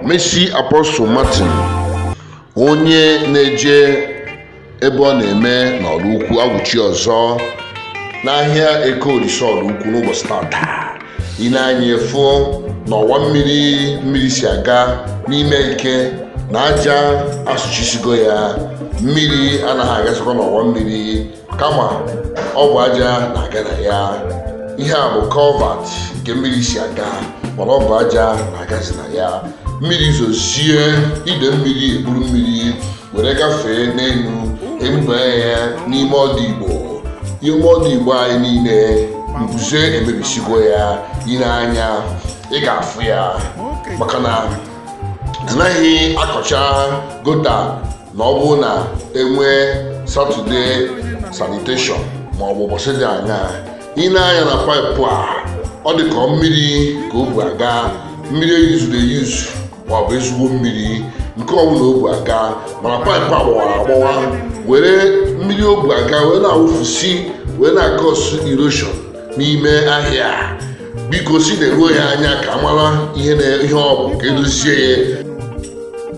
Messi Apostle Martin onye na-eje ebe ọ na-eme n'Ọraukwu awụchi ọzọ n'ahịa Eke Olisa Ọraukwu n'ụbọchị tata i nee anya ị fụ na ọwa mmiri mmiri si aga n'ime Eke na aja asụchisigo ya mmiri anaghị agazikwa n'ọwa mmiri kama ọ bụ aja na-aga na ya ihe a bụ culvert nke mmiri si aga mana ọ bụ aja na-agazi na ya mmiri zozie ide mmiri eburu mmiri were gafee n'elu ebubanye ya n'ime ọdụ igbo ime ọdụ igbo anyị niile mbuze emebisigo ya i nee anya ị ga-afụ ya maka na anaghị akọcha gutter na ọ bụrụ na enwee Saturday sanitation ma ọ bụ ụbọchị dị anya i nee anya na paịpụ a ọ dị ka mmiri ka o bu aga mmiri eyuzuru eyuzu ma ọ bụ ezigbo mmiri nke ọbụla o bu aga mana paịpụ a gbawara agbawa were mmiri o bu aga wee na-awụfusi wee na-akọsụ erosion n'ime ahịa biko sị neruo ya anya ka a mara ihe na- ihe ọ bụ ka edozie ya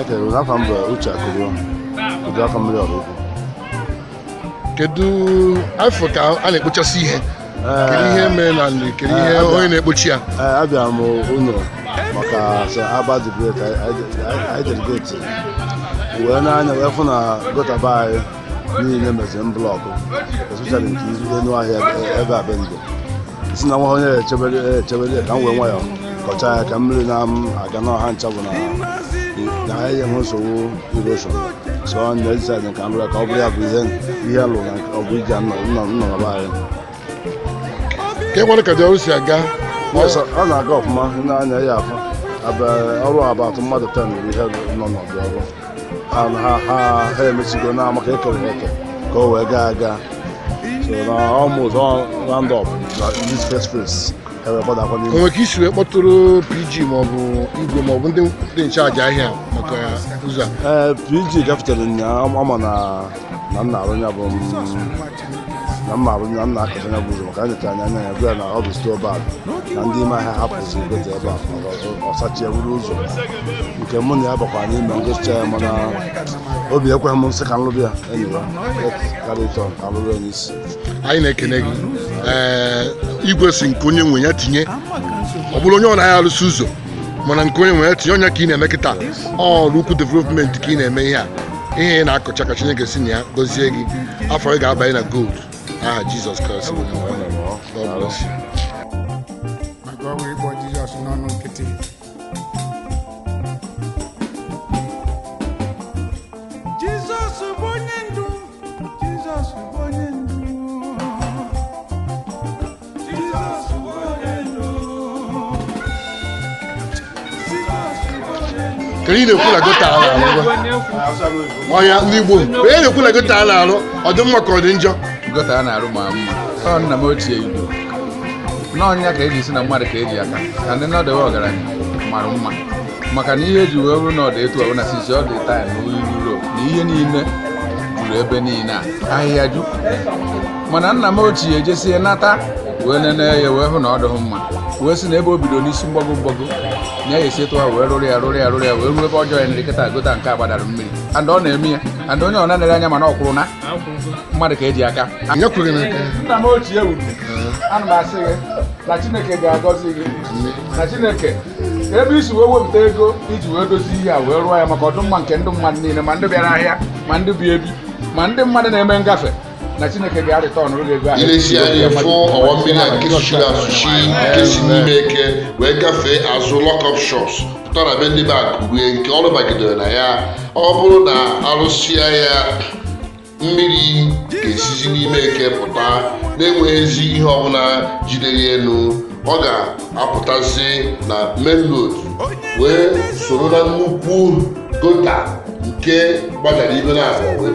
ekene na afa m bụ Uche Akulue Uduakọmmiri Ọraukwu kedu afọ ka a na-ekpochasị ihe kedu ihe mere na nri kedu ihe onye na-ekpochi ya ee abịara m ụlọ maka sọ aba dibret anyị delegate wee nee anya wee fụ na gutter be anyị niile meziri block especially nke izu elu ahịa ebe a be ndụ si na nwa onye echebere echebere ka m wee nwayọọ kọcha ya ka mmiri na-aga n'ọha ncha bụ na ahịa enwe nsogbu erosion so m decide ka m rịa ka ọ bụrụ ya bụ ihe ihe lụrụ na ọ bụ iji nnọrọba anyị ka e nwere ka ndị ọrụ si aga Yes, ọ na-aga ọfụma ndị anya ya afọ ọrụ about mmadụ 10 bụ ihe nọ n'ọdụ ọrụ ha ha ha ha emechigo na maka ekere ha eke ka o wee gaa aga so na almost all round up na this first phase ha wee gbadakwa n'ime onwe ka i si wee kpọtụrụ PG maọbụ igwe maọbụ ndị dị in charge ahịa maka ụzọ a ee PG gafetere nnyaa ọ ma na na m na-arụ ya bụ na mma abụ na m na-akọcha ya bụ ụzọ maka nyocha anya anya ya bịa na ọ bụ too bad na ndị ime ahịa hapụzi gutter ebe a ọ sụchie ewuru ụzọ nke mụ na ya bakwa n'ime ngosi ya mana obi ekweghị m nsị ka nlụrụ ya enyi ya karịtọ ka nlụrụ ya n'isi anyị na-ekene gị ee igwe sị nke onye nwe ya tinye ọ bụrụ onye ọ na-ahịa arụsị ụzọ mana nke onye nwere tinye onye ka ị na-eme kịta Oraukwu development ka ị na-eme ihe a ihe ị na-akọcha ka chineke si na ya gọzie gị afọ ị ga-abanye na gold aha jizọs kraịst bụ onye nwe anyị. God bless you. maka ọnwa ịkpọ jizọs n'ọnụ nkịtị jizọs bụ onye ndu jizọs bụ onye ndu ka ị na-ekwu na gota a na-arụ gwa? ọya ndị Igbo ka ị na-ekwu na gota a na-arụ ọ dị mma ka ọ dị njọ gota a na-arụ ma mma ọ nna m ochie igbo n'ọ nya ka eji si na mmadụ ka eji aka ka ndị nọdụwe ọgaranya mara mma maka na ihe eji wee bụrụ na ọ dị etu ọ bụ na sisi ọ dị taa na ihe niile juru ebe niile a ahịhịa ju mana nna m ochie ejesie nata wee nene ya wee hụ na ọ dịghị mma wee sị na ebe o bido n'isi mgbago mgbago na ya esi etu a wee rụrụ ya rụrụ ya rụrụ ya wee ruo ebe ọ joiniri kịta gota nke a gbadara mmiri and ọ na-eme ya and onye ọ na-enere anya mana o kwuru na mmadụ ka eji aka Nye kwuru gị n'aka. nna m ochie wuru ana m asị gị na chineke ga-agọzi gị na chineke ebe i si wee wepụta ego i ji wee dozie ihe a wee rụọ ya maka ọdịmma nke ndị mmadụ niile ma ndị bịara ahịa ma ndị bi ebi ma ndị mmadụ na-eme ngafe na chineke ga-areturnụrụ gị ego ahụ i lezie anya fụ ọwa mmiri a nke suchiri asuchi nke si n'ime eke wee gafee azụ lock-up shops pụta na be ndị be Akulue nke ọrụ bagidere na ya ọ bụrụ na arụsịa ya mmiri ga-esizi n'ime eke pụta na-enweghịzi ihe ọbụla jidere elu ọ ga-apụtazi na main road wee soro na nnukwu gota nke gbadara ibe na abụọ wee